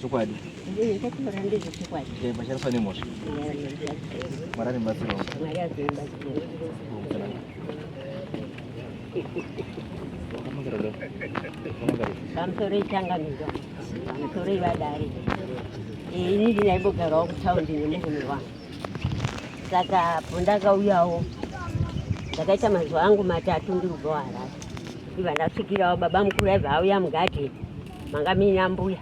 Chokwadi. Ndiye chakura ndizvo chokwadi. Eh, bacharafa nemhosva. Mwari anobatsirawo. Mwari anobatsirawo. Pamusoro ichangamizwa. Pamusoro ivadare. Eh, ini ndinaibogarawo kutaundi nemurume wangu. Saka apo ndakauyawo ndakaita mazuva angu matatu ndiri kugoharara. Iva ndasvikirawo baba mukuru aiva auya mugadheni. manga mine ambuya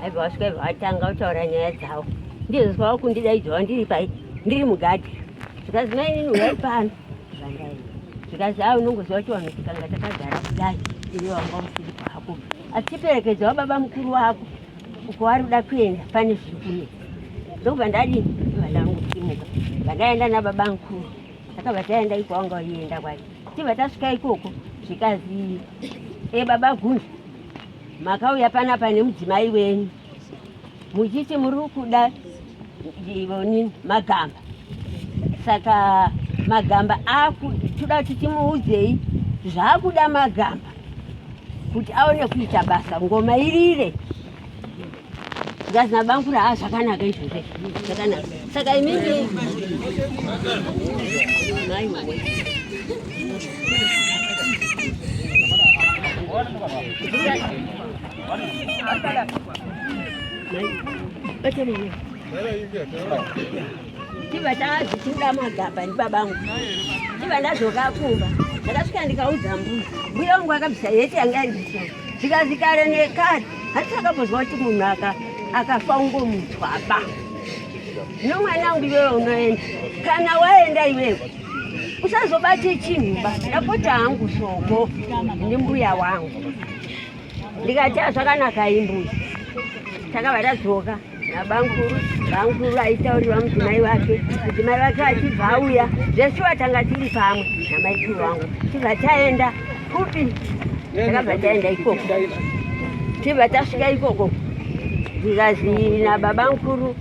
aibva vasvika ibva vatanga kutaura nyaya dzavo ndizozwa vakundidaidzawa ndiri pai ndiri mugadi zvikanzi mainini uyai pano zvandai zvikanzi a unongoziva kuti vanhu tikanga takagara kudai iwe wanga usiri pako asi chiperekedza wababa mukuru wako uko wari kuda kuenda pane zviri kunetsa ndokubva ndadii vandangu kutimuka vandaenda nababa mukuru takabva taenda iko wanga waienda kwacho tibva tasvika ikoko zvikanzi e baba gunzi makauya panapa nemudzimai wenyu muchiti muri kuda ivonini magamba saka magamba akutoda kuti timuudzei zvaakuda magamba kuti aone kuita basa ngoma irire zikazi nabangura ha ah, zvakanaka izvozve zvakanaka saka imimi Thank you. ndiva ndazvichida magaba ndibabangu ndiva ndazvokakumba ndakasvika ndikaudza mbuya mbuya wangu akabvisa yeti yanga iriso zvikanzi kare nekare hati akambozwa kuti munhu aka akafa ungomutswaba zvino mwana wangu iwewe unoenda kana waenda iwewe usazobate chinhuba ndapota hangu shoko ndimbuya wangu ndikati azvakanaka imbuya takabva tadzoka nabamkuru bamkuru aitaurirwa mudzimai wake mudzimai wake achibva auya zvesu atanga tiri pamwe namaikuru wangu tibva taenda kupi takabva taenda ikoko tibva tasvika ikoko zvikanzi nababa mukuru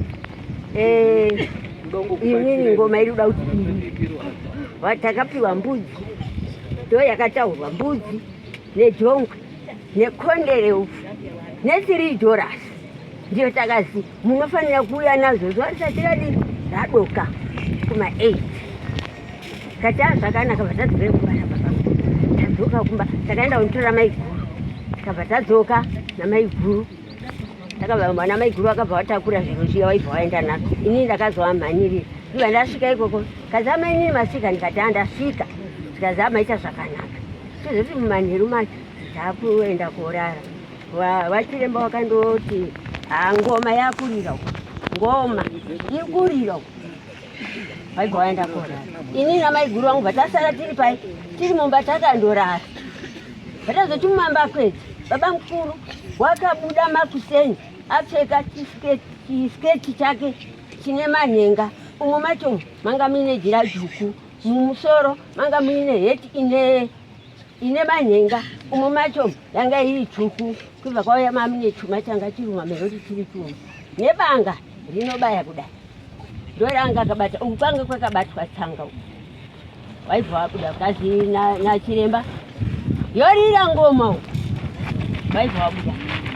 eh, imini ngoma iri kuda kuti ii watakapiwa mbudzi ndo yakataurwa mbudzi nejongwe nekondereupfu netiri dorasi ndiyo takati munofanira kuuya nazvo zuva risati radii radoka kuma eight kati a zvakanaka vatadzivei kumba nababa tadzoka kumba takaenda kunitora maiguru takabva tadzoka namaiguru takabva namaiguru akabva watakura zviro zviya waibva waenda nazvo inini ndakazovamhanyirira iva ndasvika ikoko kazama inini masvika ndikati andasvika zvikazama ita zvakanaka tozoti mumanheru macho taakuenda korara vachiremba wa, wakandoti ah, ngoma yakurira ngoma ikurira vaibva vaenda korara ini namaiguru vangu vatasara tiri pai tiri mumba takandorara vatazoti mumamba kwedzi baba mukuru wakabuda makuseni apfeka chisketi chake chine manhenga umo macho manga muine jira dzvuku mumusoro manga muine heti ine ine manhenga umo macho yanga iri tsvuku kubva kwauya mami nechuma changa chiruma meroti chiri chuma nebanga rinobaya kudai ndoranga akabata uku kwanga kwakabatwa tsanga uku waibva wabuda kazi nachiremba yorira ngoma uku waibva wabuda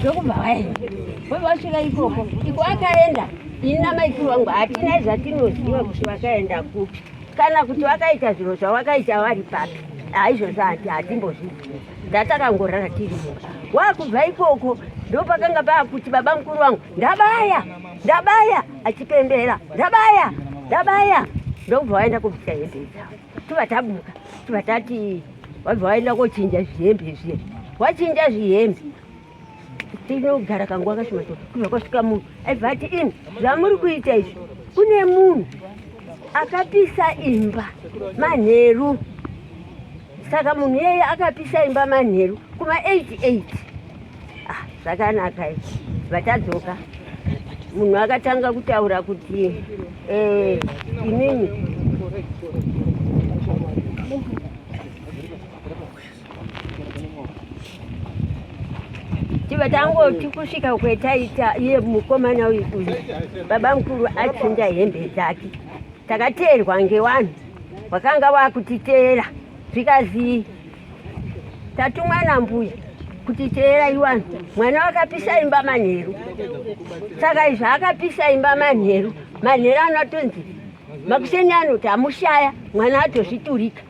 ndokubva waenda wobva wasvika ikoko iko akaenda ini namaikuru wangu hatina zvatinoziva kuti vakaenda kupi kana kuti vakaita zviro zvavakaita vari papi haizvozvo hati hatimbozvizivi ndatakangorara tiri mumba wakubva ikoko ndopakanga paakuti baba mukuru wangu ndabaya ndabaya achipembera ndabaya ndabaya ndokubva waenda kubvisa hede dzavo tuva tabuka tuva tati wabva waenda kochinja zvihembe zviya wachinja zvihembe tinogara kanguva kashoma to kubva kwasvika munhu aibva ati ini zvamuri kuita izvi kune munhu akapisa imba manheru saka munhu iyeye akapisa imba manheru kuma 88 Ah, zvakanaka izvi vatadzoka munhu akatanga kutaura kuti eh, inini tiba tangoti kusvika kwetaita iye mukomana uyu uyu baba mukuru achinda hembe dzake takateerwa ngewanhu wakanga wakutiteera zvikazii tatumwa nambuya kuti teerai vanhu mwana wakapisa imba manheru saka izvi akapisa imba manheru manheru anotonzi makuseni anoti amushaya mwana atozviturika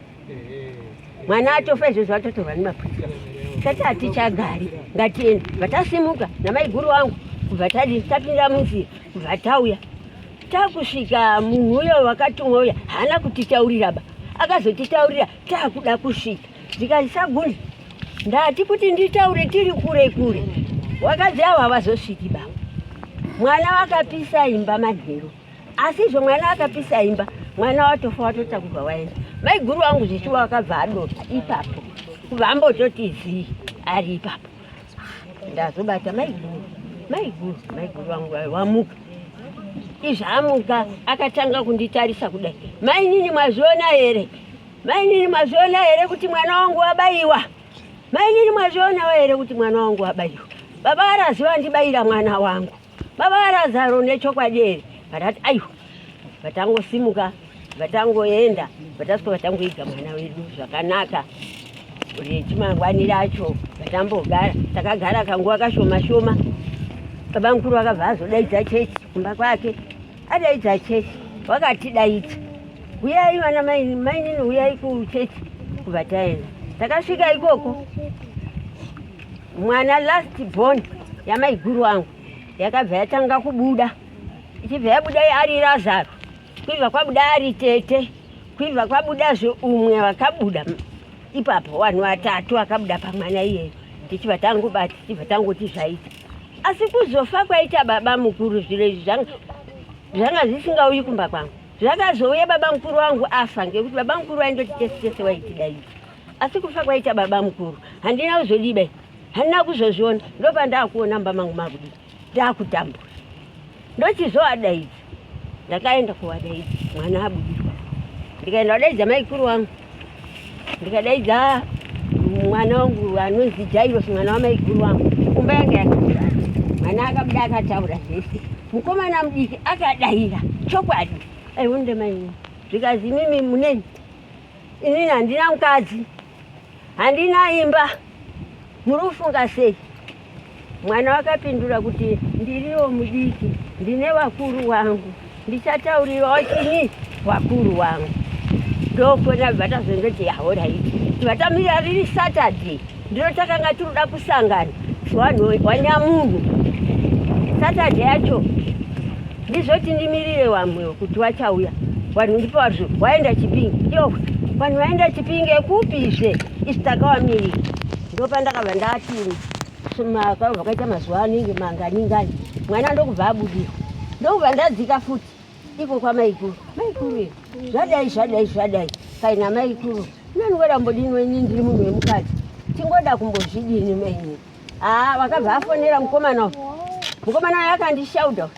mwana atofa izvozvo atotorwa nemapurisa tati hatichagari ngatiende vatasimuka namaiguru wangu kubva tadi tapinda munzira kubva tauya takusvika munhu uyo wakatumwa uya haana kutitaurira ba akazotitaurira Takuda kusvika zvikanzi Sagunde ndati kuti nditaure tiri kure kure, wakadzi avo havazosviki baba. Mwana wakapisa imba manheru, asizvo mwana akapisa imba mwana watofa watotakurwa waenda. Maiguru wangu zvichiwa wakabva adota ipapo kubva ambototi zii ari ipapo. ndazobata maiguru maiguru maiguru vangu vamuka izvi amuka akatanga kunditarisa kudai mainini mwazviona here mainini mwazviona here kuti mwana wangu wabaiwa mainini mwazvionawo here kuti mwana wangu wabaiwa baba varaziva ndibaira mwana wangu Baba vaRazaro nechokwadi here? Vakati aiwa. Vatangosimuka, vatangoenda, vatasvika vatangoiga mwana wedu zvakanaka. Rechimangwani racho vatambogara, takagara kanguva kashoma shoma. Baba mukuru vakabva azodaidza chechi kumba kwake, adaidza chechi wakatidaidza, huyai vana maini, mainini huyai kuchechi kubva taenda. Takasvika ikoko mwana last born yamaiguru wangu yakabva yatanga kubuda ichibva yabuda ari razaro kuibva kwabuda ari tete kuibva kwabudazve umwe vakabuda ipapo vanhu vatatu vakabuda pamwana iyeyo tichibva tangobati tichibva tangoti zvaita asi kuzofa kwaita baba mukuru zviro izvi zvanga zvisingauyi kumba kwangu zvakazouya baba mukuru wangu afa ngekuti baba mukuru waindoti tese tese waitidaii asi kufa kwaita baba mukuru handina kuzodiba handina kuzozviona ndopandakuona mba mangu makudii ndakutambura ndochizovadaidza ndakaenda kuvadaidza mwana abudirwa ndikaenda vadaidza maikuru wangu ndikadaidza mwana wangu anonzi jairosi mwana wamaikuru wangu kumba yange yakaaa mwana akabuda akataura zvese mukomana mudiki akadaira chokwadi aionde maini zvikanzi mimi muneni Inini handina mukadzi, handina imba, muri kufunga sei? Mwana wakapindura kuti ndiriwo mudiki, ndine vakuru wangu, ndichataurirawo chini vakuru wangu. Ndokona bva tazondoti ahoraiti vatamira riri Saturday Ndiro takanga tinoda kusangana vanhu wanyamunhu satade yacho ndizvoti ndimirire vamwe kuti vachauya vanhu ndipo vazvo waenda chipingi yo vanhu vaenda chipingi ekupizve isi takavamirira ndopandakabva ndati vakaita mazuva anenge manganingani mwana ndokubva abudira ndokubva ndadzika futi Iko kwa maikuru. Maikuru. Zvadai zvadai zvadai. Kaina maikuru. Nani wera mbodini wenyi ndiri munhu wemukati. Tingoda kumbozvidini menyi. Ah, wakabva afonera mukomana. Mukomana wake akandishauda.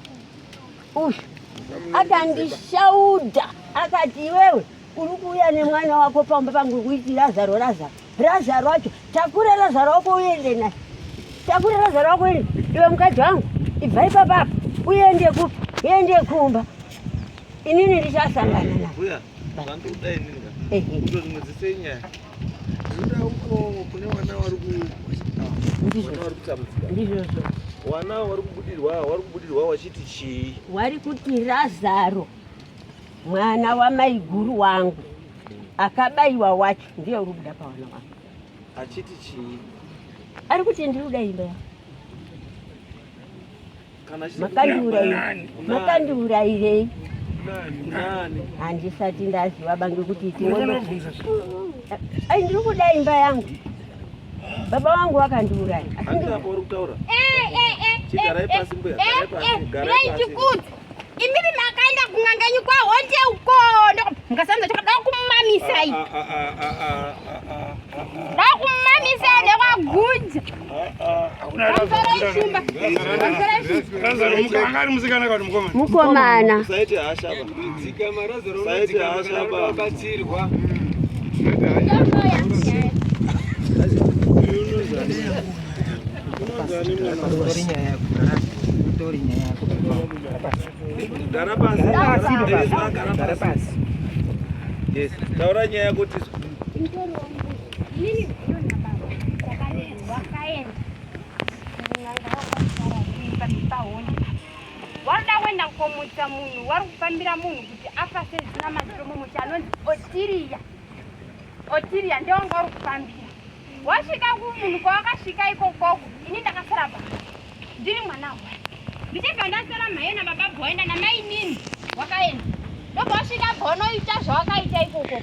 Ush. Akandishauda. Akati iwewe uri kuuya nemwana wako pamba pangu kuitira zaro razaro. Razaro wacho takura razaro wako uende naye. Takura razaro wako uende. Iwe mukadzi wangu ibva ipapa apa uende ku uende kumba. Inini ndichasangana naye. Uya. Vandu dai ninga. Eh. Ndo ndimuzise nyaya. Nda uko kune wana wari ku Ndizvo. Wana wari kutambudzika. Ndizvo. Wana wari kubudirwa, wari kubudirwa wachiti chii? Wari kuti razaro. Mwana wamaiguru wangu akabaiwa wacho ndiye uri kuda pavana wangu. Achiti chii? Ari kuti ndiri kuda imba yako. Makandiurairei? Handisati ndaziva bange kuti ai ndiri kuda imba yangu. Baba wangu wakandiuraya. Asi ndiri kutaura. Eh eh eh. Chigarai pasi mbuya. Garai pasi. Garai pasi. imimi makaenda kun'anga yenyu kwahonde uko mukasanza choda kumamisai da kumamisai nekwaguja mukomana Taura nyaya yako tisu. Wada wenda komutsa munhu wari kufambira munhu kuti afase zina matiro mumuti anonzi otiriya otiriya ndewanga uri kufambira Wasvika kumunhu kwawakasvika ikokoko ini ndakasara pa ndiri mwana wa ndichibva ndasara mhaye nababa bhoenda namainini wakaenda ndobva wasvika bva unoita zvawakaita ikokoko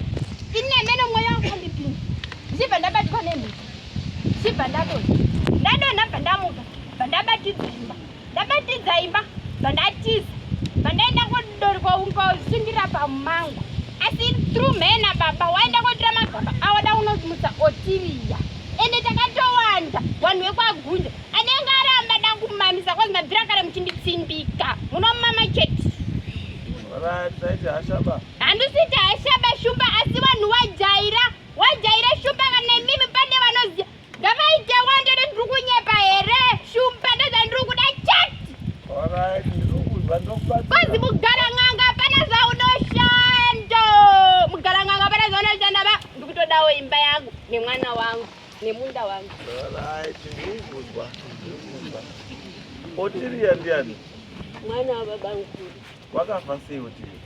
ini nemene mweya wakandipinda ndichibva ndabatwa nemhiko ndichibva ndadonha ndadonha bva ndamuka bva ndabatidzimba ndabatidza imba zvandatiza vandaenda kodorwa ungausindira pamangu asi through mhena baba waenda kotira magaba awada unosimutsa otiriya ende takatowanda vanhu vekwagunde anenge aramba dakumamisa kwanzi mabvira kare muchinditsimbika munomama chete handisiti hashaba shumba asi vanhu wajaira wajaira shumba kana imimi pane vanoziva Ndavaite wande ndiri kunyepa here? Shumba ndozvandiri kuda chat. Alright, ndiri kuda ndokubatsira. Kozi mugara nganga pana zvaunoshanda. Mugara nganga pana zvaunoshanda ba ndiri kutodawo imba yangu nemwana wangu nemunda wangu. Alright, ndiri kuda. Ndiri kuda. Otiria ndiani? Mwana wababangu. Wakafa sei Otiri?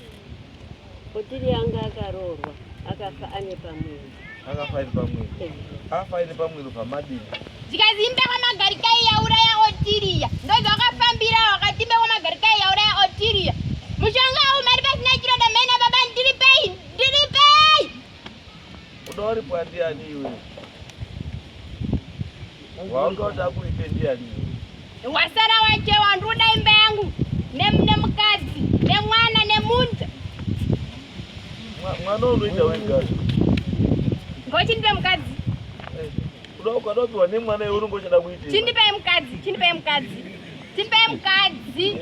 Otiri anga akaroorwa akafa ane pamwiri. Akafa ane pamwiri. Eh. Akafa ane pamwiri pamadini. Zikazi imba kwa magarikai yauraya Otiria. Ndozi wakafambira wakati imba kwa magarikai yauraya Otiria. Mushonga huu mari pasina chiroda mena baba ndiri pei ndiri pei. Unoripwa ndiani iwe? Waunga uda kuita ndiani? Wasara waje wanduda imba yangu nemune mukadzi nemwana nemunja. Mwana unoita wega. Ngochi ndipe mukadzi. Eh, unokuwa dobi wane mwana yoro ngochada kuita. Chindipe mukadzi, chindipe mukadzi. Tipe mkadzi.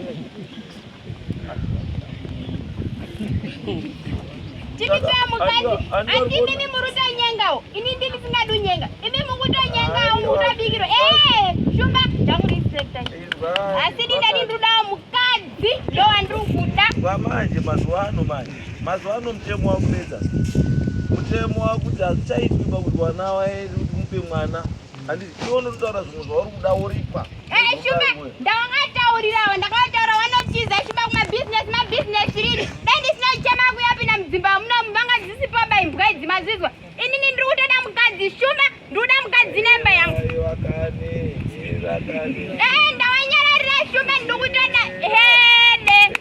Tipe mkadzi. Andi mimi muruta nyengao. Ini ndimi singadu nyenga. Imi mukuta nyengao mukuta bigiro. Eh, shumba jangu respect. Asi dinda ndinduda mkadzi ndo andru kuda. Kwa manje mazuano manje. Mazuano mtemo wakumedza. Mtemo wakuti azichaitwa kuti wana wae mupe mwana. Handisi iwe unotaura zvimwe zvauri kuda woripwa. Eh, Shumba, ndawangataurirawo ndakataura wanotiza Shumba kuma business ma business rini. Dai ndisina kuchema kuya pina mudzimba amuna mubanga dzisipo ba imbwa idzi mazizwa. Ini ni ndiri kutoda mukadzi Shumba, ndiri kuda mukadzi nemba yangu. Ayo akane, irakane. Eh, ndawanyararira Shumba ndiri kutoda. Eh.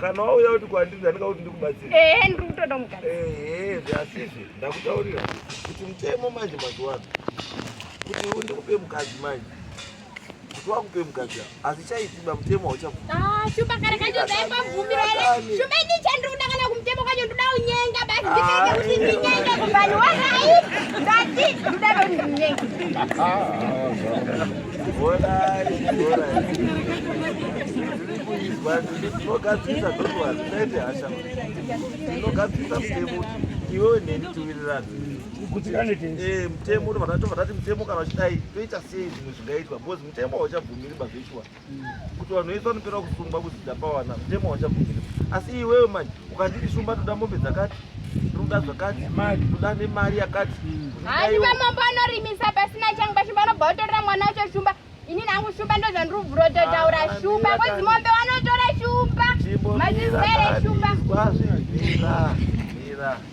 kana wauya kuti kwandiri ndandika kuti ndikubatsira ehe ndiri kutoda mukadzi ehe zviasizve ndakutaurira kuti mutemo manje mazuva ano kuti undikupe mukadzi manje kuti wakupe mukadzi asi chaitiba mutemo hauchashupa ah, kare kacho ndaipabvumira ere shumba ini chandiri kuda kana kumutemo kacho ndoda unyenga basi ndikaite ah, kuti ndinyenge kuvanhu warai ndati ndoda ndonyenga ah, iwewe neni tiwirirana eh, mutemo vatati mutemo kana vachidai toita sei zvimwe zvingaitwa bcause mutemo hauchabvumiri bazveshuwa kuti vanhu vese vanopera kusungwa kuzita pawana mutemo hauchabvumiri asi iwewe manje ukanditi shumba toda mombe dzakati toda zvakati toda nemari yakati handi vamambo anorimisa pasina changu pashumba vanobva vatorera mwana wacho shumba ini nangu shumba ndo zvandiri kubvura utotaura ah, shumba kozi mombe wanotora shumba mazizere shumba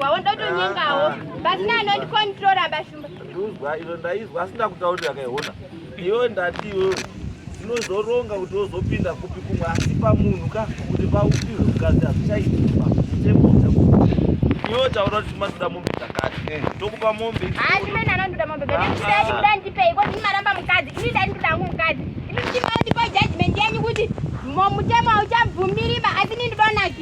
Wawo ndotonyengawo. Basina anondikontrola bashumba. Nduzwa ino ndaizwa asina kutaurira kaiona. Iwe ndati iwe tinozoronga kuti wozopinda kupi kumwe asi pamunhu ka kuti paupirwe mukadzi hazvichaitika iwe taura kuti matoda mombe dzakati eh. tokupa mombe hachimenanondoda mombe dzaekuda ndipei ko ndimaramba mukadzi ini ndaindoda hangu mukadzi ini ndimaondipa judgment yenyu kuti mutemo hauchabvumiriba asi nindibaonaki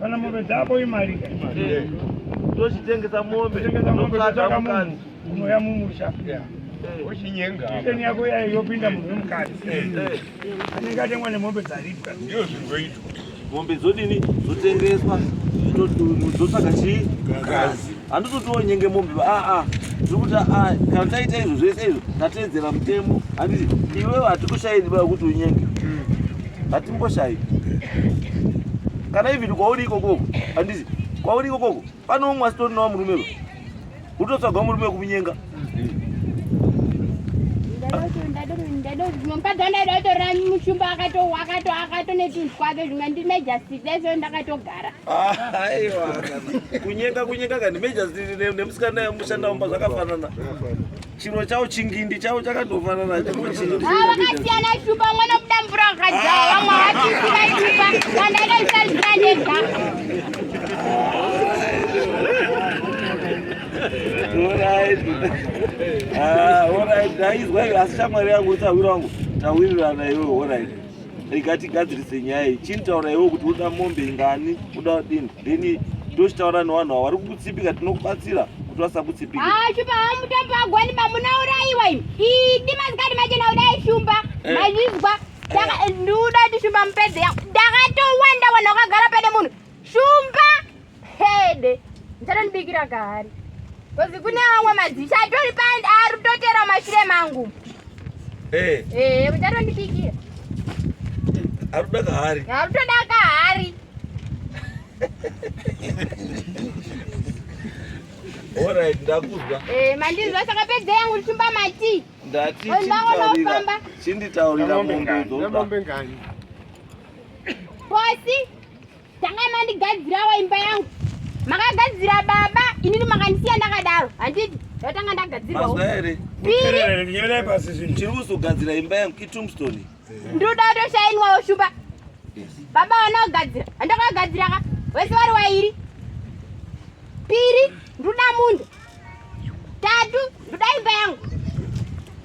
kana mombe dzako imari tochitengesa mombe totsvaga mukadzi unoya mumusha ochinyenga iteni yako yayo yopinda munhu wemukadzi anenge atengwa nemombe dzaribwa ndiyo zvingoitwa mombe dzodini dzotengeswa dzotsvaga chii mukadzi handitotiwo nyenge mombe aa tiri kuti aa kana taita izvo zvese izvo tateedzera mutemo handiti iwewe hatikushairi baa kuti unyenge hatimboshayi kana even kwauri ikokoko handizi kwauri ikokoko pane umwe asitorinawo murume va utotsvaga murume wekunyenga ndadodondadotora mushumba akatowa akato akato netunhu twake zvimwe ndimejastiteso ndakatogara aiwa kunyenga kunyenga kani mejastite nemusikana yamushandamumba zvakafanana chiro chao chingindi chao chakatofanana vakasiyana itupa umwe nokuda mvura wakadzaa vamwe havachisiva itupa vandaida kusazira ndega ah, asi shamwari yangu utawiri wangu tawirirana iwe orit rega tigadzirise nyaya iyi chinitaura iwo kuti uda mombe ingani uda dini then tochitaura nevanhu avo vari kukutsipika tinokubatsira kuti vasakutsipika ah, shumba hava mutambo wagwani bamunauraiwa imi idi mazikati machena kudai shumba eh. maizvizwa eh. ndiuda kuti shumba mupedze yako ndakatowanda wanhu wakagara pane munhu Shumba hede ndichanondibikira kahari kozi kune vamwe madzisha atori pandi ari kutotera mashure mangu eh. eh, muchatondibikira ari kuda kahari ari kutoda kahari Alright, ndakuzwa. Eh, mandizwa saka pedza yangu ndishumba mati. Ndati chinditaurira mombe dzoda. Mombe ngani? Bosi. Tanga mandigadzirawo imba yangu. Makagadzira baba, inini makandisiya ndakadaro. Handiti ndatanga ndagadzirawo. Mazwa here? Piri. Nyerai pasi zvinhu. Chiri kuzogadzira imba yangu kiTombstone. Ndoda kutoshainwawo shumba. Baba wana kugadzira. Handakagadzira ka. Wese wari wairi. Piri, ndoda munda. Tatu, ndoda imba yangu.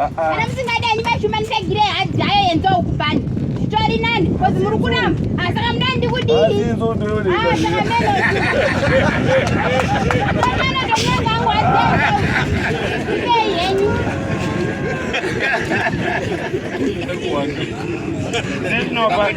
Ah, ah. kana musingadi hanyu maishumanisa gire hadhi hayo yenza ukubani zvitori nani kozi muri kuramba ah, saka mudani ndikudii henyu There's no back.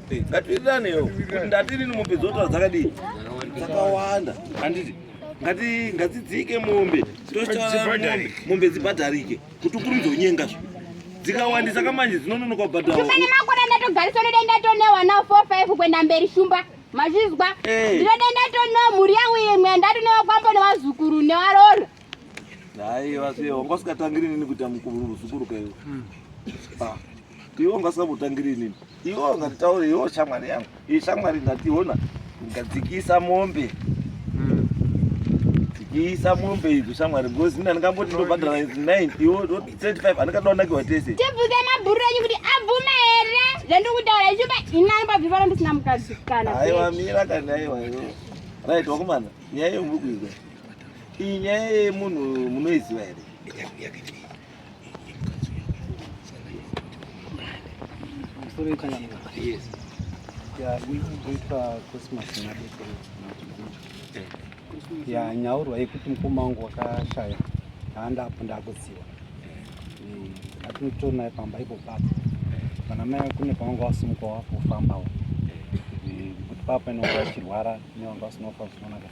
Ngatiendanewo kuti ndatiri mombe dzotora dzakadii dzakawanda handiti ngati ngadzidzike mombe tochitaramombe mombe dzibhadharike kuti ukuru dzonyenga zvo dzikawandisa kamanje dzinononoka kubhadhara ufane makore ndatogarisa unodenda tonewa now four five kuenda mberi shumba mazvizwa eh. ndinodenda tonewa mhuri yangu imwe yandatonewa kwambo nevazukuru nevaroora hayi vasiye wanga usingatangiri nini kuita mukuru zukuru kaiwo hmm. ah. iwe ungasingambotangiri inini iwe ungatitaure iwe shamwari yangu iyi shamwari ingationa ingadzikisa mombe hmm. dzikisa mombe idzo shamwari because ini andingamboti ndobhadhara 9 iwe 35 handikatonakiwa tese tibvunze mabhuru enyu kuti abvuma here zvandikutaura ichuba ini anobabvivara ndisina mukadzi kana aiwa mira kana aiwa iwe right wakomana nyaya yomuri kuizwa iyi nyaya yemunhu munoiziva here Yes. Yeah, we going to uh, Christmas ya nyaurwa yekuti mukoma wangu wakashaya haandapo ndakuziwa eh, atinotona pamba ipo papo kana mai kune pavanga wasumuka wafofambawo eh, kuti papa inonga achirwara nevanga vasinofa zvinonaka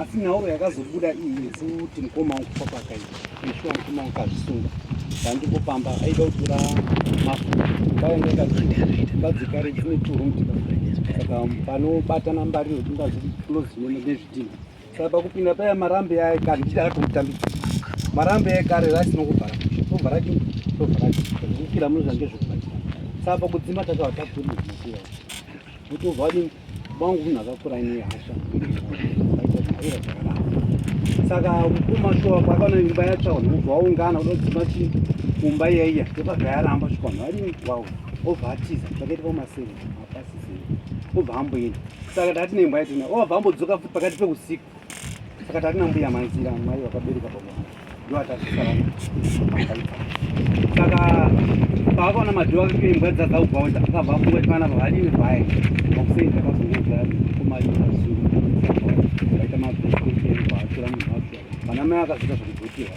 asi nhauro yakazobuda iyi yekuti mukoma wangu papaka iyi ishuwa mukoma wangu kazvisunga ndandiko pamba aida kutora mafuta mbaendaikazvibadzikare dzine turumtika saka panobatana mbariro dingazvinoziona nezvidhina saka pakupinda paya marambe yaye kare ndichida katomutambisa marambe yaye kare raisina kuvhara tovhara ki tovhara ki kukira mune zvange zvekubatika saka pakudzima takava takurimaiaa Mutovadi vangu munhu akakura ine hasha aitaira zvakanaka saka mukoma shuwa kwakaona imba yatsva vanhu vobva vaungana kuda kudzima chii kumba iyaiya ndopabva yaramba shuwa vanhu vari wau obva atiza zvakaita pamaseve apasisei obva amboenda saka ndati nemba yatina obva ambodzoka futi pakati peusiku Saka tari nambuya manzira mai vakabereka pamwana ndoatasisarana saka paakaona madhoo ake kuimbwa dzadza kugaunda akabva afunga kuti vana vavadini vaya makuseni takazongoga kumaazuu vaita mabheskeeatora munhu wacho vana mai akazoita zvekugotihwa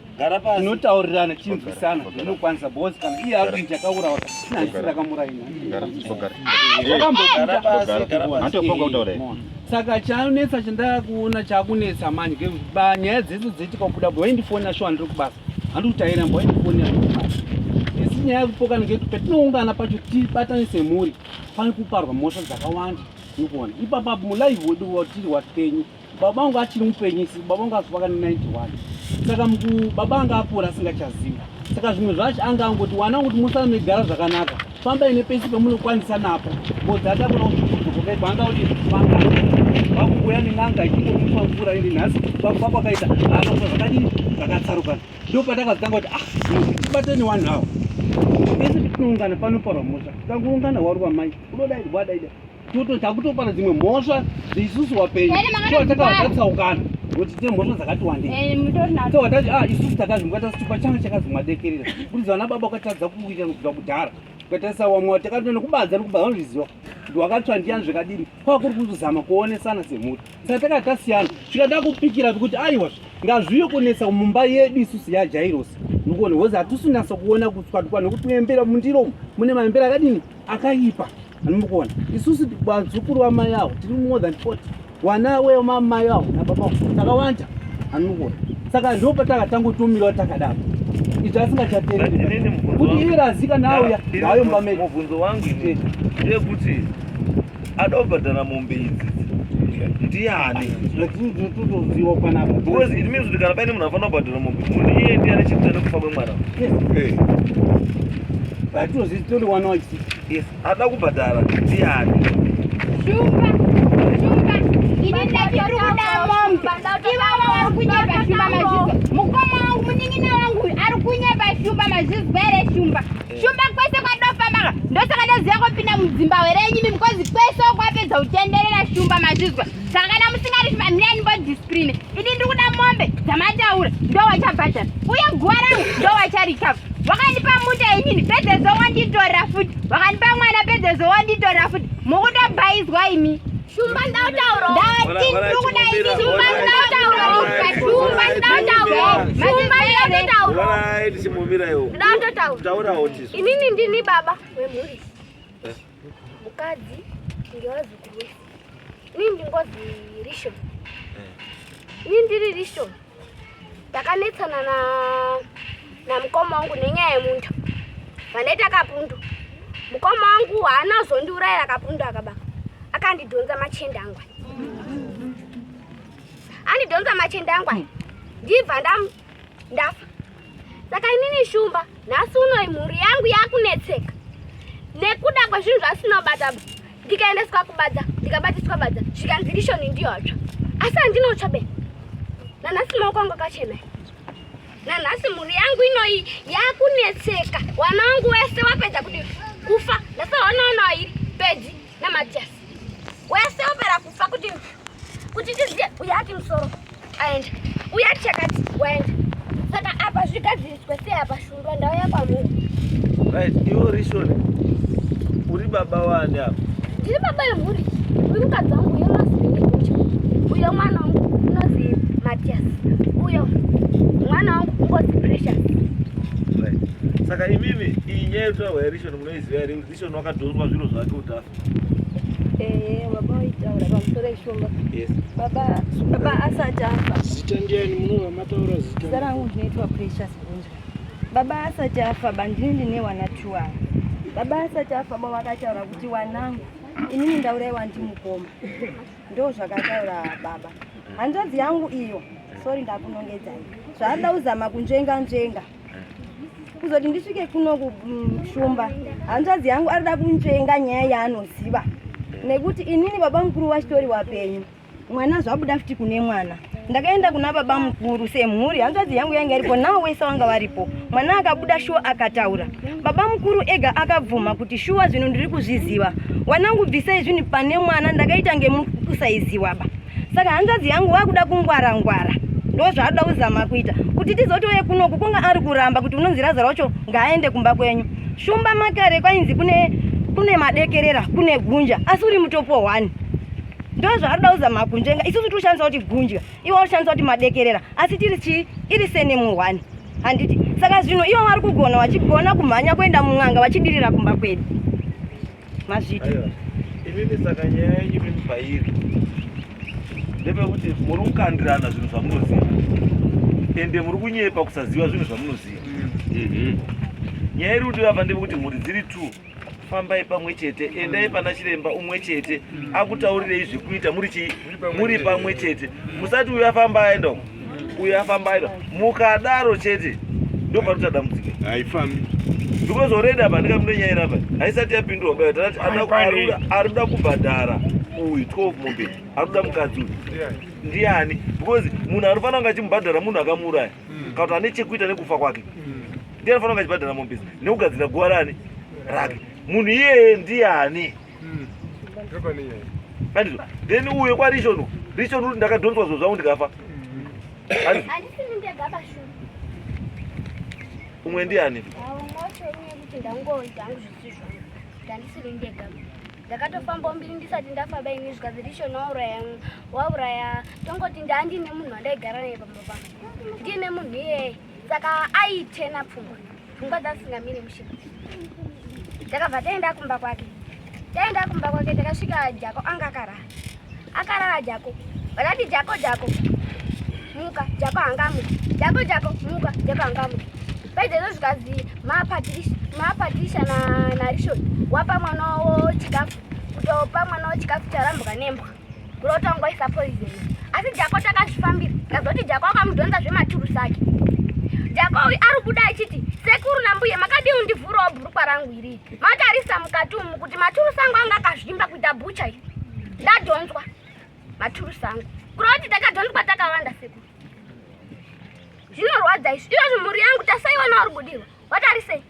gara pasi tinotaurirana tinzwisana ndinokwanisa bozi kana iye akuti ndakaurawa nandisi ndakamuraina saka chanetsa chandakuona chakunetsa manje nyaya dzese dzaitika kubuda bho waindifonera shuwa ndiri kubasa handikutaira mbo waindifonera asi nyaya yekupokana ngekuti patinoungana pacho tibatane semhuri pane kuparwa mhosva dzakawanda nikuona ipapa mulive wedu watiri wapenyu baba vangu achiri mupenyisi baba vangu azofa kana 91 saka baba anga apora asingachazivi saka zvimwe zvacho anga angoti wana kuti musana megara zvakanaka fambai nepesi pemunokwanisa napo ngozi atakona kuzokokaibva anga kuti fanga vakuuya nen'anga ichikomupa mvura iri nhasi vakufa kwakaita akafa zvakadii zvakatsarukana ndo patakazitanga kuti ah tibateni wanhu awo pese petinoungana panoparwa mhosva tikangoungana waruva mai unodaidwa daida tototya kutopara dzimwe mhosva isusu vapenyu so takatsaukana kuti dzine mhosva dzakati wandeiso watati a isusu takazvimuka tasitupa changa chakazi mwadekerera kuti zvana baba ukatadza kuita kubva kudhara ukatarisa wamwe wati takati nekubanza nekubanza vanozviziva kuti wakatsva ndiyani zvakadini kwava kuri kuzozama kuonesana semhuri saka takati tasiyana tikada kupikira kuti aiwa ngazviyo kunetsa mumba yedu isusu yajairosi nikuona hozi hatisunasa kuona kutswatukwa nekuti muembera mundiromo mune maembera akadini akaipa Anomukuona. Isusu vazukuru vamai avo tiri more than 40. Wana weyo mamai avo nababa takawanda. Anomukuona. Saka ndipo patakatangotumirawo takadaro. Izvi asingachatereri. Kuti iye razika nawo ya hayo mbameni. Mubvunzo wangu ini ndeyekuti adobhadhara mombe idzi ndiani zvatinotoziva panapa because it means kuti kana paine munhu afanira kubhadhara mombe munhu iye ndiye ane chekuita nekufa kwemwana vatozvitori wana wachii Yes, ada kubhadhara ndiani? Shumba, shumba. Ini ndachitoda momba. Ivava vari kunyepa shumba mazvizwa. Mukoma wangu munin'ina wangu ari kunyepa shumba mazvizwa here shumba? Eh. Shumba kwese kwadofamba ndosaka ndoziva kopinda mudzimba here yenyu imi mukozi kwese kwapedza kutenderera shumba mazvizwa. zvakana musingarifi vamirai nimbodiscipline ini ndiri kuda mombe dzamataura ndo wachabhadhara uye guva rangu ndo wacharikava wakandipa muta inini pedzezo wanditora futi wakandipa mwana pedzezo wanditora futi mukutobhaizwa imi shumba ndautaura ndati ndiri kuda ini shumba ndautaura shumba ndautaura shumba ndautaura ndautaura inini ndini baba wemhuri mukadzi ndewazukuru wese ini ndingozi rishon eh. ini ndiri rishon ndakanetsana na namukoma wangu nenyaya yemunda vanoita kapundu mukoma wangu haana kuzondiurayira kapundu akaba akandidhonza machende angwa andidhonza machende angwa ndibva ndamu ndafa saka inini shumba nhasi unoi mhuri yangu yakunetseka nekuda kwezvinhu zvasina kubata ndikaendeswa kubadza ndikabatiswa badza zvikanzi rishoni ndiyotsva asi handinotsva be nanhasi maoko angu akachena nanhasi mhuri yangu inoi yakunetseka wana wangu wese wapedza kuti kufa ndasawanaonairi pedzi Namatias. Wese opera kufa kuti kuti tiziye uya ati musoro aenda. Uya ati chakati waenda. Saka apa zvigadziriswe sei apa shundwa ndau yakwamuri. Right, iwe uri shona. Uri baba wani apa? Ndiri baba yemhuri. Uyu mukadzi wangu uyo unozii uyo mwana wangu unozii Matias. Uyo mwana wangu ungozi Precious. Right. Saka imimi iyi nyaya yotwa wairishoni munoiziva here Station wakadhonzwa zviro zvake kuti afe. Eh, baba waitaura pamusoro ishoma. Yes. Baba, baba asati afa. Zita ndiani munova mataura zita? Zita rangu ndinoitwa Precious Bunzwa. Baba asati afa, bandini ndine wana two ava. Baba asati afa, baba vakataura kuti wanangu inini ndauraiwa ndimukoma. Ndoo zvakataura baba. Hanzvadzi yangu iyo, sorry ndakunongedzai. Zvaada uzama kunzvenga nzvenga. kuzoti ndisvike kuno kushumba hanzvadzi yangu arida kunzvenga nyaya yaanoziva nekuti inini baba mukuru vachitori wapenyu mwana zvabuda futi kune mwana ndakaenda kuna baba mukuru semhuri hanzvadzi yangu yanga iripo nawo wese wanga varipo mwana akabuda shuwa akataura baba mukuru ega akabvuma kuti shuwa zvinhu ndiri kuzviziva wanangu bvisai zvinhu pane mwana ndakaita ngemukusaiziwaba saka hanzvadzi yangu wakuda kungwara ngwara ndozvaanoda kuzama kuita kuti tizotouye kunoku kunga ari kuramba kuti unonzi raza racho ngaaende kumba kwenyu shumba makare kwainzi kune kune madekerera kune gunja asi uri mutopo one ndozvaanoda kuzama kunjenga isusu tiri kushandisa kuti gunja iwo akushandisa kuti madekerera asi tiri chii iri senemu one handiti saka zvino iwo wari kugona wachigona kumhanya kuenda mun'anga vachidirira kumba kwedu mazviti imimi saka nyaya yenyu mimi pairi ndepekuti muri kukandirana zvinhu zvamunoziva ende muri kunyepa kusaziva zvinhu zvamunoziva mhm. nyaya iri kudiwa apa ndepekuti mhuri dziri two fambai pamwe chete endai pana chiremba umwe chete akutaurirei zvekuita muri chii muri pamwe chete musati uyo afamba aenda uko uyo afambaira mukadaro chete ndopanoita dambudziko haifambi because already apa ndinga munenyaira apa haisati yapindurwa baa tati arikuda kubhadhara uyu 12 mombe arikuda mukadzi uyu ndiani because munhu anofanira kunge achimubhadhara munhu akamuuraya hmm. kana kuti ane chekuita nekufa kwake hmm. ndiye anofanira kunge achibhadhara mombe nekugadzira guva rani rake munhu iyeye ndiani then uyo kwarishon rishon uri ndakadhonzwa zvo zvangu ndikafa umwe ndiani ndakatofamba mbiri ndisati ndafa baini zvikanzi rishon wauraya wauraya tongoti ndandiine munhu wandaigara naye pamba pangu ndiine munhu iyeye saka aitena pfungwa pfungwa dzasingamiri mushe takabva taenda kumba kwake taenda kumba kwake takasvika jako anga akarara akarara jako vakati jako jako muka jako hangamuka jako jako muka jako hangamuka paizvezvo zvikazi mapatricia narishon wapa mwana wavo chikafu kutopa mwana wavo chikafu charambuka nembwa Kurotongoisa poison. Asi Jako takazvifambira. Ndazoti Jako akamudhonza zvematurusi ake. Jako uyu ari kuda achiti sekuru nambuye makadii undivhurawo bhurukwa rangu iri. Matarisa mukati umu kuti maturusi angu anga akazvimba kuita bucha iri. Ndadhonzwa maturusi angu. Kureva kuti takadhonzwa takawanda sekuru. Zvinorwadza izvi. Izvozvo mhuri yangu tasaiwana uri kudirwa. Watarise.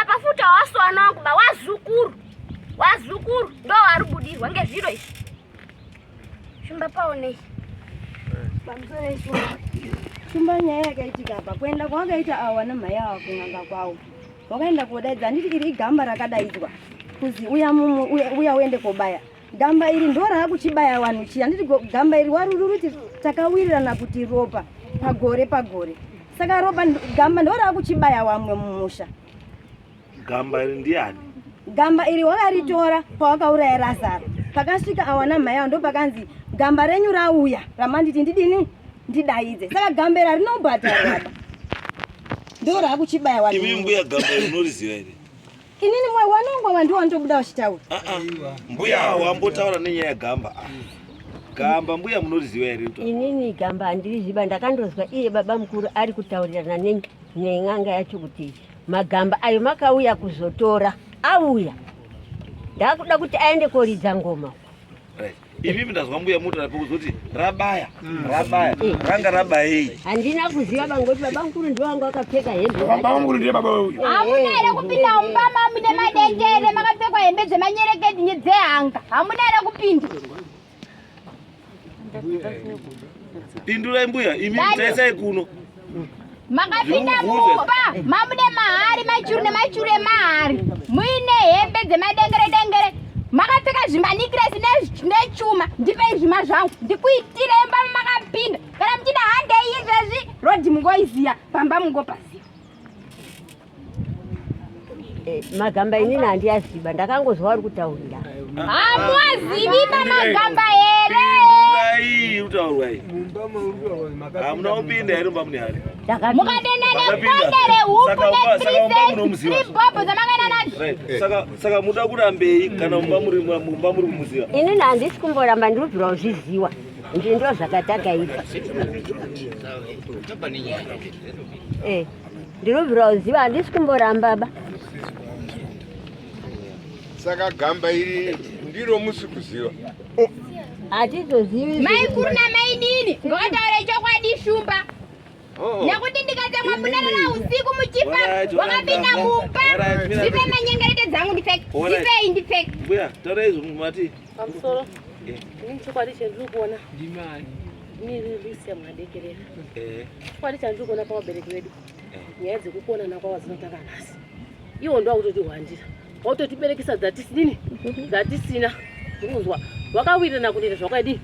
Apa futi hawaswana wangu ba wazukuru. Wazukuru ndo wari budirwa ngezviro izvi. Shumba paone. Bamzore izvo. Shumba nyaya yakaitika apa kuenda kwakaita awa namhaya awa kunganga kwawo. Wakaenda kodaidza handiti iri igamba rakadaidzwa. Kuzi uya mumu uya uende kobaya. Gamba iri ndo raakuchibaya vanhu chiya handiti gamba iri waruri ruti takawirirana kuti ropa pagore pagore saka ropa gamba ndo raakuchibaya wamwe mumusha gamba iri ndiyani gamba iri wakaritora pawakauraya razaro pakasvika awana mhai ao ndo pakanzi gamba renyu rauya ramanditi ndidini ndidaidze saka gamba iri harinobhadharaba ndo raakuchibaya wamwe mbuya gamba iri unoriziva here Inini mwe wanongwa vandu wandobuda wachitaura. Ah ah. Mbuya wambotaura nenyaya yagamba. Ah. Gamba mbuya munoriziva here to? Inini gamba andiriziva ndakandozwa iye baba mukuru ari kutaurirana ne nen'anga yacho kuti magamba ayo makauya kuzotora auya. Ndakuda kuti aende koridza ngoma. Imi ndazwa mbuya muto rapo kuzoti rabaya mm. rabaya mm. ranga rabayei. Handina kuziva bangoti baba mkuru ndiwo wanga wakapfeka hembe. Baba mkuru ndiye baba uyu. Hamuna here kupinda mumba mamu nemadendere makapfekwa hembe dzemanyereketi nyedzehanga. Hamuna here kupinda. Pindurai mbuya imi mtaisai kuno. makapinda mumba mamude mahari maichuru nemaichuru emahari muine hembe dzemadengere dengere makapfeka zvimanikiresi nechuma ndipei zvima zvangu ndikuitire imba makapinda kana muchida handei izvezvi rodhi mungoiziya pamba mungopaziva Eh, magamba inini handiyaziva ndakangozwa uri kutaurira hamuwazivi pamagamba here hamuna kupinda here mumba mune hari mukadenda nekonde rehupu netribobo dzamakaenda nadzo saka muda kurambei kana mumba muri mumba muri kumuziva inini handisi kumboramba ndiri kubvira kuzviziwa ndizvo zvakataka izvi Ndinobvira uziva handisi kumboramba ba. Saka gamba iri ndiro musi kuziva. Oh. Hatizozivi. Mai kuru na mai dini ngavataure chokwadi shumba. Oh. Nekuti ndikatsamwa munarara usiku muchifa wakapinda mumba. Ndipe manyengerete dzangu ndipfeke. Ndipei ndipfeke. Mbuya, taura izvo mati. Pamusoro. Eh. Ini chokwadi chendiri kuona. Ndimai. chokwadi chandiri kuona pavabereki vedu nyaya dzekukuonana kwavo dzinotanga nhasi iwo ndo wakutotihwandira wautotiberekesa dzatisinini dzatisina kunzwa wakawirirana kunoita zvawakadii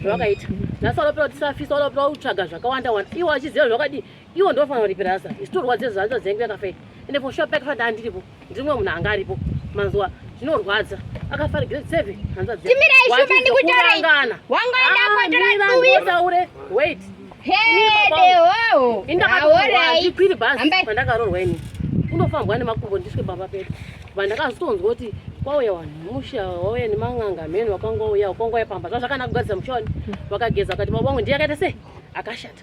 zvawakaita nhasi walaopera tisafisa walaopera utsvaga zvakawanda wanda iwo achiziva zvawakadii iwo ndofanira kuripira asa isu torwadze zvanza dzengu yakafa ii ende for sure pakafa ndandiripo ndiri mumwe munhu anga aripo manzwa zvinorwadza akafa ari grade seven hanza dzekurangana wangaendakotoraure wait indakatoakwiri bhasi pandakarorwa ini unofambwa nemakumbo ndiswe baba pedu vandakazotonzwa kuti kwauya vanhu musha wauya neman'anga mheni wakanga uya wakanga uya pamba zvazvakanaka kugadzisa mushoni vakageza vakati baba wangu ndiye akaita sei akashata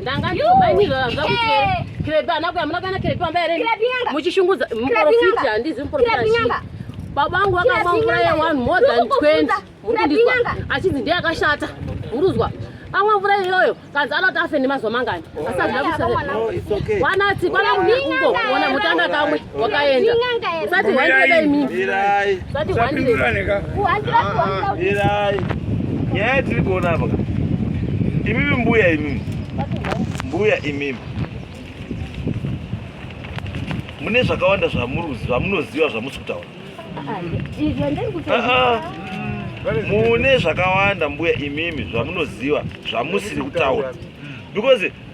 ndanga ndinobainirwa zvakuti eh. kirepi ana kuya muna kana kirepi amba here muchishungudza muprofiti handizi muprofiti baba vangu vakamwa mvura yewanhu more than 20 murikundizwa achinzi ndiye akashata muruzwa amwa mvura iyoyo kanzi anoti afe nemazuva mangani asazvaawanati kwana kunekungo ona mutanga kamwe wakaenda usati handire imi usati handire kuhandira kuhandira mirai nyaya tiri kuona apa imimi mbuya imimi mbuya imimi mune zvakawanda zvamunoziva zvamusi kutaura mune zvakawanda mbuya imimi zvamunoziva zvamusiri kutaura because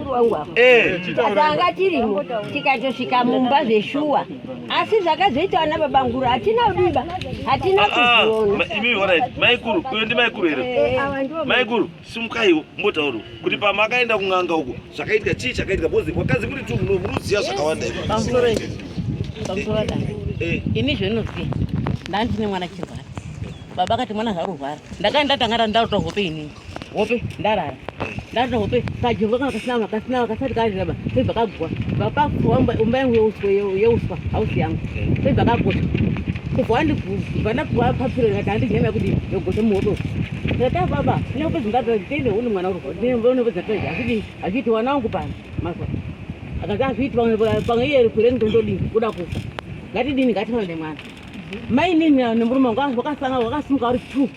wangu apa eh. tanga tirimo tikatosvika mumba zveshuwa asi zvakazoita ana baba nguru hatina kudiba hatina ah, ah, maikuru uyo ndi maikuru here eh, eh, maikuru simukaiwo mbotauro kuti pamakaenda kun'anga uko zvakaitika chii chakaitika bcoz kwakazi kuti tu munoziva zvakawanda ini zvinoziva ndandine mwana chirwara baba akati mwana zvarurwara ndakaenda tanga randauta hope inini hope ndarara ndarara hope kajonga kana kasina vanhu kasina vanhu kasati karira ba sebva kagwa vakagwa umba yangu yeuswa yeuswa hausi yangu sebva kagosha kubva wandibva ndapuwa papiro ndikati handidyi nyama yekudii yogosha muhope ndikati baba ine hope dzingabva nditende une mwana urwa une hope dzatoi hazvidii hazviiti wana wangu pano mazwa akati hazviiti pamwe iye rikure ndondodii kuda kufa ngatidini ngatifanane mwana mainini nemurume wangu wakasanga wakasimuka uri two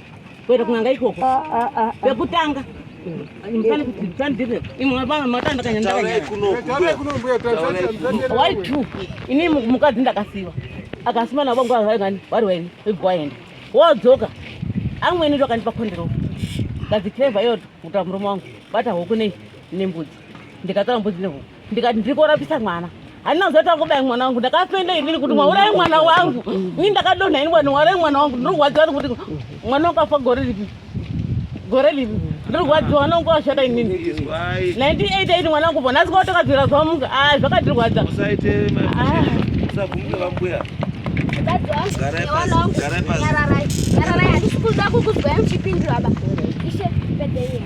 kuenda kunanga ikoko ah, ah, ah, pekutanga ini mukadzi ndakasiva akasima navo nguva vaingani vari waini igwaenda wodzoka amweni ndo akandipa kondiro kadzitreva iyo kuta murume wangu bata huku nei nembudzi ndikatara mbudzi nehuku ndikati ndiri kurapisa mwana handina kuzoti akubaya mwana wangu ndakafenda inini kuti mwaurayi mwana wangu ini ndakadonha ini kwani mwaurayi mwana wangu ndiri kurwadziwa nekuti mwana wakafa gore lipi gore lipi ndiri kurwadziwa mwana wangu washata inini 98 ini mwana wangu po nhasi kwautokadzira zvamuka a zvakatirwadza Nyararai, nyararai, hatisi kuda kukuzwai muchipindura ba. Ishe, pedhe yenu.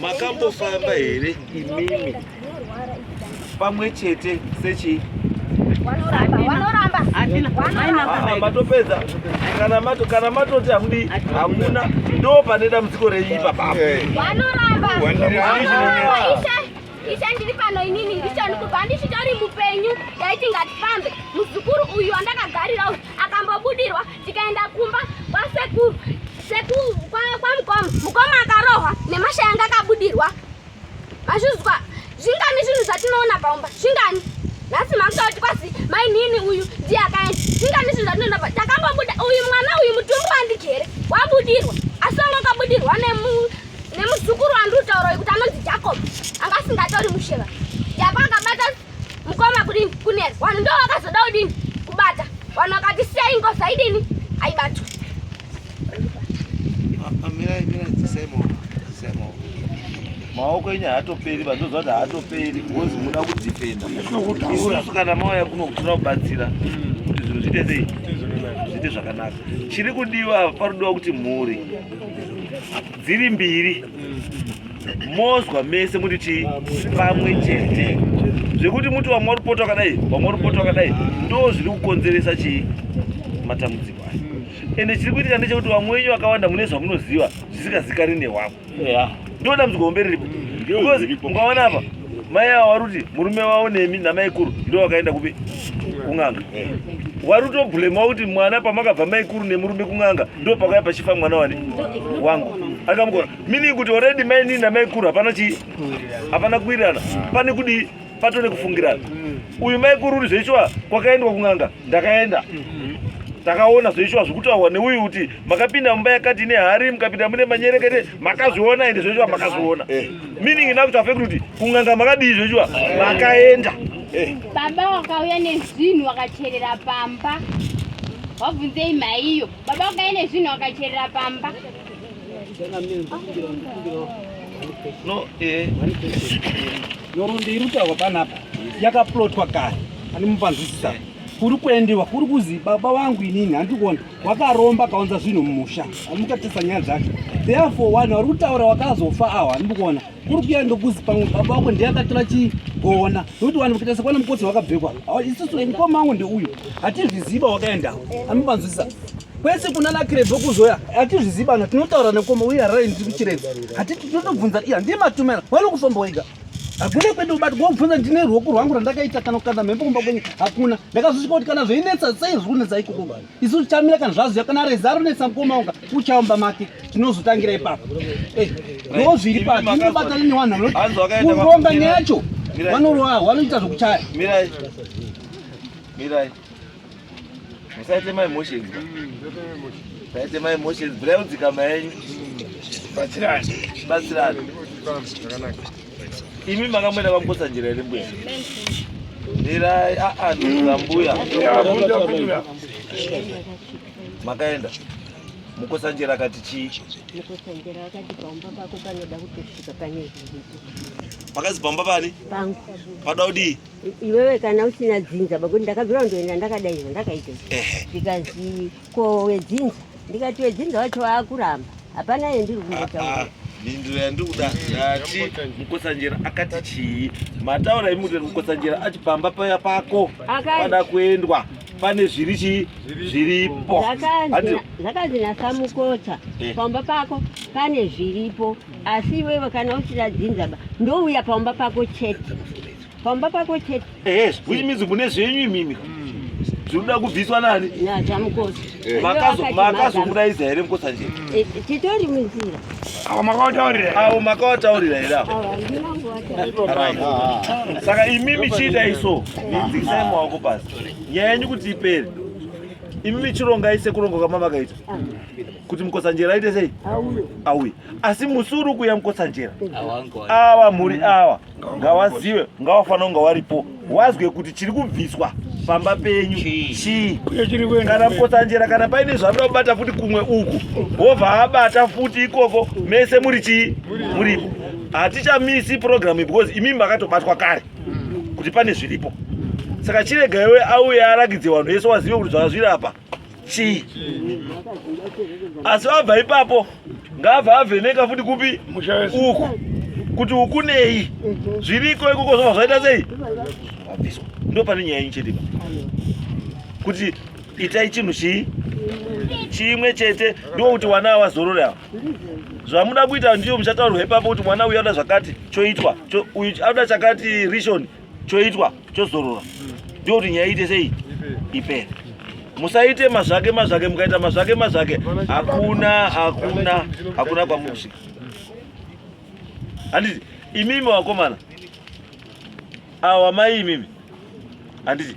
Makambofamba here imimi pamwe chete sechi matopedza kana mato kana matoti hamudi hamuna ndo pane dambudziko renyu ipapa ishe ndiri pano inini ndicho ndikubva ndichitori mupenyu ndaiti ngatifambe muzukuru uyu andakagarira akambobudirwa tikaenda kumba kwasekuru sekuru kwamukoma mukoma akarohwa nemasha yanga akabudirwa mazvizwa zvingani zvinhu zvatinoona paumba zvingani nhasi makuta kuti kwazi mainini uyu ndiye akaenda zvingani zvinhu zvatinoona pa takambobuda uyu mwana uyu mutumbu wandigere wabudirwa asi wanga wakabudirwa nemuzukuru wandiri kutaura uyu kuti anonzi jacob anga asingatori musheva yako akabata Mkoma kudini kunera vanhu ndo vakazoda kudini kubata vanhu vakati siyai ngozi aidini aibatwa maoko enyu haatoperi vandoziva kuti haatoperi bhozi muda kudhifenda isusu kana mauya kuno kutoda kubatsira kuti zvinhu zviite sei zviite zvakanaka chiri kudiwa parudiwa kuti mhuri dziri mbiri mozwa mese muti chii pamwe chete zvekuti muti vamwe vari kupota wakadai vamwe vari kupota wakadai ndo zviri kukonzeresa chii matambudziko aya ende chiri kuitika ndechekuti vamwe wenyu vakawanda mune zvamunoziva zvisikazikani newamwe ndo dambudziko hombe riripo because ungaona apa mai ava vari kuti murume wavo nemi namaikuru ndo vakaenda kupi kun'anga wari kutobhulema kuti mwana pamakabva maikuru nemurume kun'anga ndo pakaya pachifa mwana wani wangu akamukona mini kuti oredi mainini namaikuru hapana chii hapana kuwirirana pane kudii pato nekufungirana uyu maikuru uri zveishuwa kwakaendwa kun'anga ndakaenda takaona zveishuwa zvekutaurwa neuyu kuti makapinda mumba yakati ine hari mukapinda mune manyerekete makazviona ende zvezviwa makazviona eh. meaning ina kuti afekti kuti kunganga makadii zvezviwa makaenda eh. baba wakauya nezvinhu wakacherera pamba wabvunzei maiyo baba wakauya nezvinhu wakacherera pamba no eh. norondo iri kutaurwa panapa yakaplotwa kare ani mupanzwisisa kuri kuendiwa kuri kuzi baba vangu inini handikuona wakaromba akaunza zvinhu mumusha amutatisa nyaya dzacho therefore vanhu vari kutaura wakazofa aho handikuona kuri kuya ndokuzi pamwe baba wako ndiye akatora chigona nokuti vanhu vakaita sekwana mukotsi wakabvekwa isusu mukoma wangu ndeuyu hatizviziva wakaendawo amupanzwisisa kwese kuna nakirebve kuzoya hatizviziva na tinotaura nekoma uye haraini tiri kuchiredza hatiti tinotobvunza iya ndiye matumela vanokufamba wega hakuna kwenda ubati kwaubvunza ndine ruoko rwangu rwandakaita kana kukanda mhepo kumba kwenyu hakuna ndakazosvika kuti kana zveinetsa sei zviri kunetsa ikoko isu tichamira kana zvaziva kana reza ronetsa mukomaunga uchaumba make tinozotangira ipapo eh, ndo zviri pati inobatana newanhu kuronga neyacho vanoroa wanoita zvokuchaya musaite my emotions musaite my emotions bhurai mudzikama yenyu batsirani imi makamwena kwamukosa njira iri mbuya ndirai aa ndira mbuya makaenda mukosanjera akati chii makazi pamba pani panoda kudii iwewe kana usina dzinza pakuti ndakabvira kundoenda ndakadaiza ndakaita zvikanzi ko wedzinza ndikati wedzinza wacho waakuramba hapana yendiri kungotaura ah, ah, mhinduro yandikuda ndati mukosanjera akati chii mataura imuti mukosanjera ati pamba paya pako pada kuendwa pane zviri chii zviripo zvakanzi nasamukotsa eh. pamba pako pane zviripo asi iwewe kana usina dzinza ndouya pamba pako chete pamba pako chete eh which means mune zvenyu imimi zvinoda kubviswa nani nachamukosi eh. makazomuraidza here mukosa nje eh, titori munzira awo makawataurira awo makawataurira here saka imimi chiita iso inzikisai maoko pasi nyaya yenyu kuti ipere imimi chirongai sekuronga kwamamakaita ah. kuti mukotsanjera aite sei auye asi musi uri kuya mukotsanjera awa mhuri awa ngawazive ngawafanira kunga waripo wazwe kuti chiri kubviswa pamba penyu chii kana mukotsanjera kana paine zvanoda kubata futi kumwe uku wobva abata futi ikoko mese muri chii muripo hatichamisi purogiramu because imimi makatobatwa kare kuti pane zviripo saka chiregaiwe auye arakidze vanhu vese wazive kuti zvakazviri apa chii asi abva ipapo ngaabva avheneka futi kupi uku kuti uku nei zviriko ikoko zvobva zvaita sei wabviswa ndo pane nyaya inchete kuti itai chinhu chii chimwe chete ndo kuti wana awazorore awa zvamuda kuita ndiyo muchataurwa ipapo kuti mwana uyu anoda zvakati choitwa uyu anoda chakati rishoni choitwa chozorora ndio kuti nyaya iite sei ipere musaite mazvake mazvake mukaita mazvake mazvake hakuna hakuna hakuna kwamuri kusvika handiti imimi wakomana awa mai imimi handiti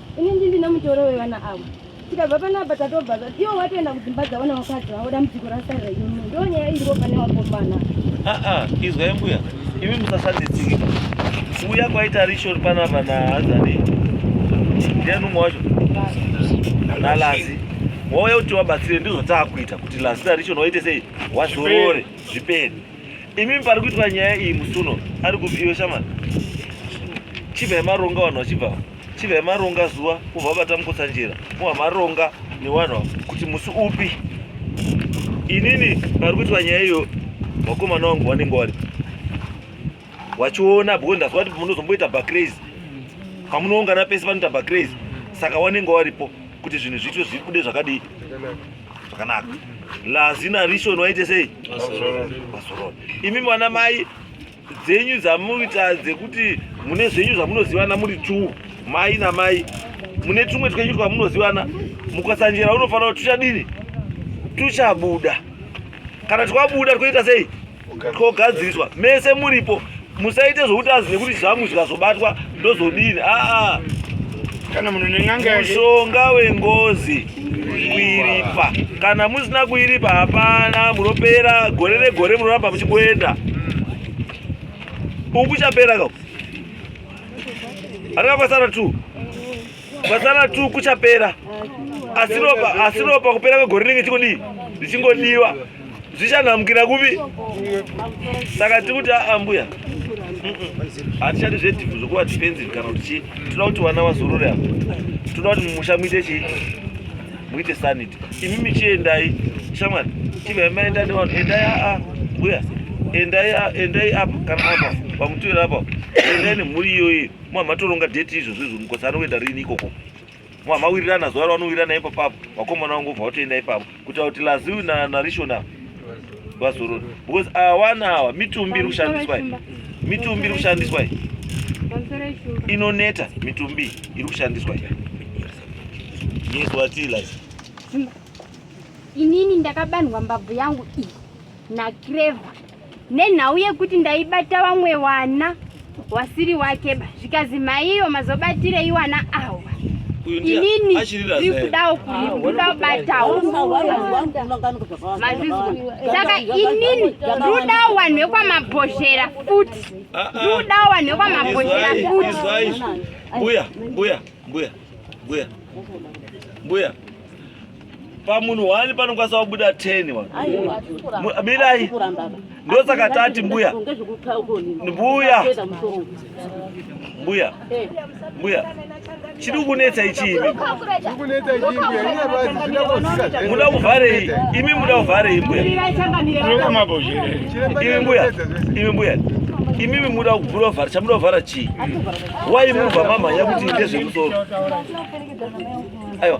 Ini ndini ndine mutoro wevana avo. Tikabva panapa tatobva zati iwo watoenda kudzimba dzavo nevakadzi vavo dambudziko rasarira imi. Ndiyo nyaya iripo pane wakomana. Ah ah, izwai mbuya. Imi musasanditsiki. Kuuya kwaita rishori panapa nahanzani. Ndiani umwe wacho? Nalazi. Wauya kuti wabatsire ndizvo taakuita kuti lazi rarishori waite sei? Wazorore zvipere. Imi pari kuitwa nyaya iyi musuno ari kubviwe shamana. Chibva yemaronga vanhu vachibva. chivya maronga zuva kuva vatamukutsa njira kuva maronga newanwa kuti musi upi inini pari kuitwa nyaya iyo vakomana wangu vanenge wari wachiona bcause ndazwa kuti munozomboita bacrazy pamunoungana pese panoita bacrazy saka wanenge waripo kuti zvinhu zviitwe zvibude zvakadii zvakanaka lazina rishon waite sei mazorona imi mwana mai dzenyu dzamuita dzekuti mune zvenyu zvamunozivana muri two mai namai mune tumwe twenyu twamunozivana mukasanjera unofanira kuti tuchadini tuchabuda kana twabuda twoita sei twogadziriswa mese muripo musaite zvokuti azi nekuti zvangu zvikazobatwa ndozodini aa kana munhu nen'anga mushonga wengozi kuiripa kana musina kuiripa hapana munopera gore negore munoramba muchingoenda uku chapera ka arika kwasara t kwasara t kuchapera asi ropa kupera kwegore rinenge chikudii richingodiwa zvichanhamukira kupi saka tiri kuti aambuya hatichati zvedhivu zvokuva defensive kana kuti chii tinoda kuti vana vazorore apa tinoda kuti mumusha muite chii muite sanity imi michiendai shamwari chivai maenda nevanhu endai aa mbuya endai endai apa kana apa pamutoera apa endai nemhuri iyoyi mwa matoronga date izvozvo izvo mukosi anoenda rini ikoko mwa mawirirana zuva ravanowirirana ipo papo vakomana vangu vobva vatoenda ipapo kutaura kuti laziu narishona vazorora because awana awa mitumbi iri kushandiswa mitumbi iri kushandiswa inoneta mitumbi iri kushandiswa yes watila inini ndakabanhwa mbabvu yangu iyi nakreva nenhau yekuti ndaibata vamwe wana wasiri wake ba zvikazi maiyo mazobatirei wana awa inini ri kudawo kuda kubatawo mazizwa saka inini rudawo wanhu wekwamabhozhera futi rudawo wanhu wekwamabhozhera futi mbuya mbuya mbuya mbuya mbuya pamunhu wani panokwanisa kubuda 10 wani mirai ndosaka tati mbuya mbuya mbuya mbuya chiri kunetsa ichii muda kuvharei imi muda kuvharei mbuya imi mbuya imi mbuya imimi muda kuvhura vhara chamuda kuvhara chii wai mubva mamhanya kuti ndezvemusoro aiwa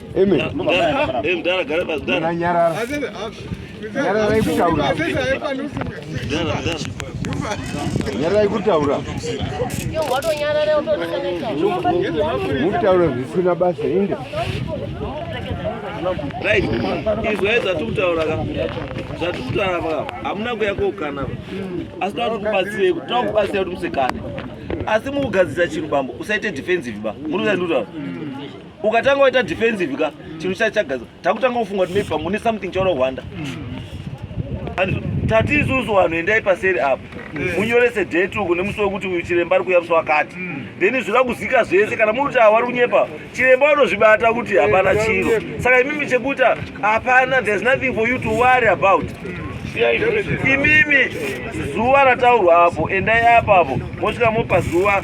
nyararai kutaura mutaura zvisina basa inde right izwai zvatiri kutaura ka zvatiri kutaura pa hamuna kuya koukana pa asi tava tikubatsirei kuti tava kubatsira kuti musekane asi mukugadzirisa chinhu bambo usaite defensive ba muri kuzai ndikutaura ukatanga waita defensive ka chinhu chacho chagaza takutanga kufunga kuti maybe pamune something chaona hwanda tati isusu vanhu endai paseri apo mm. munyorese date uku nemusi wekuti uyu chiremba ari kuya musi wakati mm. then zvira kuzika zvese kana muri kuti awari kunyepa chiremba vanozvibata kuti hapana chiro saka imimi chekuti hapana there's nothing for you to worry about mm imimi zuva rataurwa apo endai apo apo mosvika mopa zuva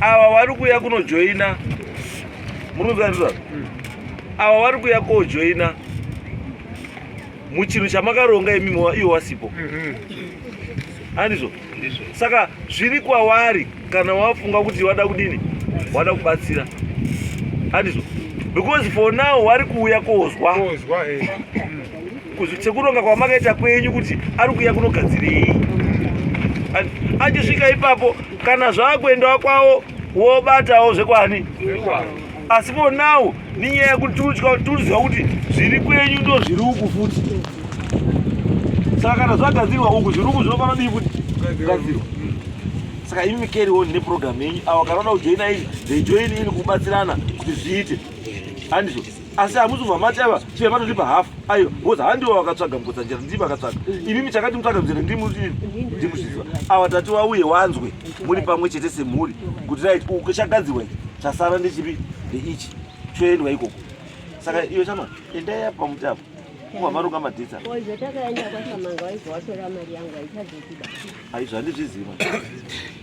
ava vari kuya kunojoina murunzanizvaa ava vari kuya kojoina muchinhu chamakaronga imi iwe wasipo andizvo saka zviri kwavari kana wafunga kuti wada kudini wada kubatsira andizvo because for now wari kuuya kozwa eh. sekuronga kwamakaita kwenyu kuti ari kuya kunogadzirei achisvika ipapo kana zvaakuendawo kwavo wobatawo zvekwani asi for now ninyaya yekuti tiruziva kuti zviri kwenyu ndo zviri uku futi saka kana zvagadzirwa uku zviri uku zvinofanira dii kuti gadzirwa saka imi carry on neprogram yenyu avo kana vanoda kujoina ini they join ini kubatsirana kuti zviite handizvo asi hamusi kubva mati aiva chive matotipa hafu aiwa bcoz handiwo vakatsvaga mukotsanjera ndii vakatsvaga imimi chakati mutsvaga muzere ndimusviziva awa tati wauye wanzwe muri pamwe chete semhuri kuti rit chagadzirwa ichi chasara ndechipi ndeichi choendwa ikoko saka iyo chama endai apa muti apo kubva maronga madhitsa aizvandizviziva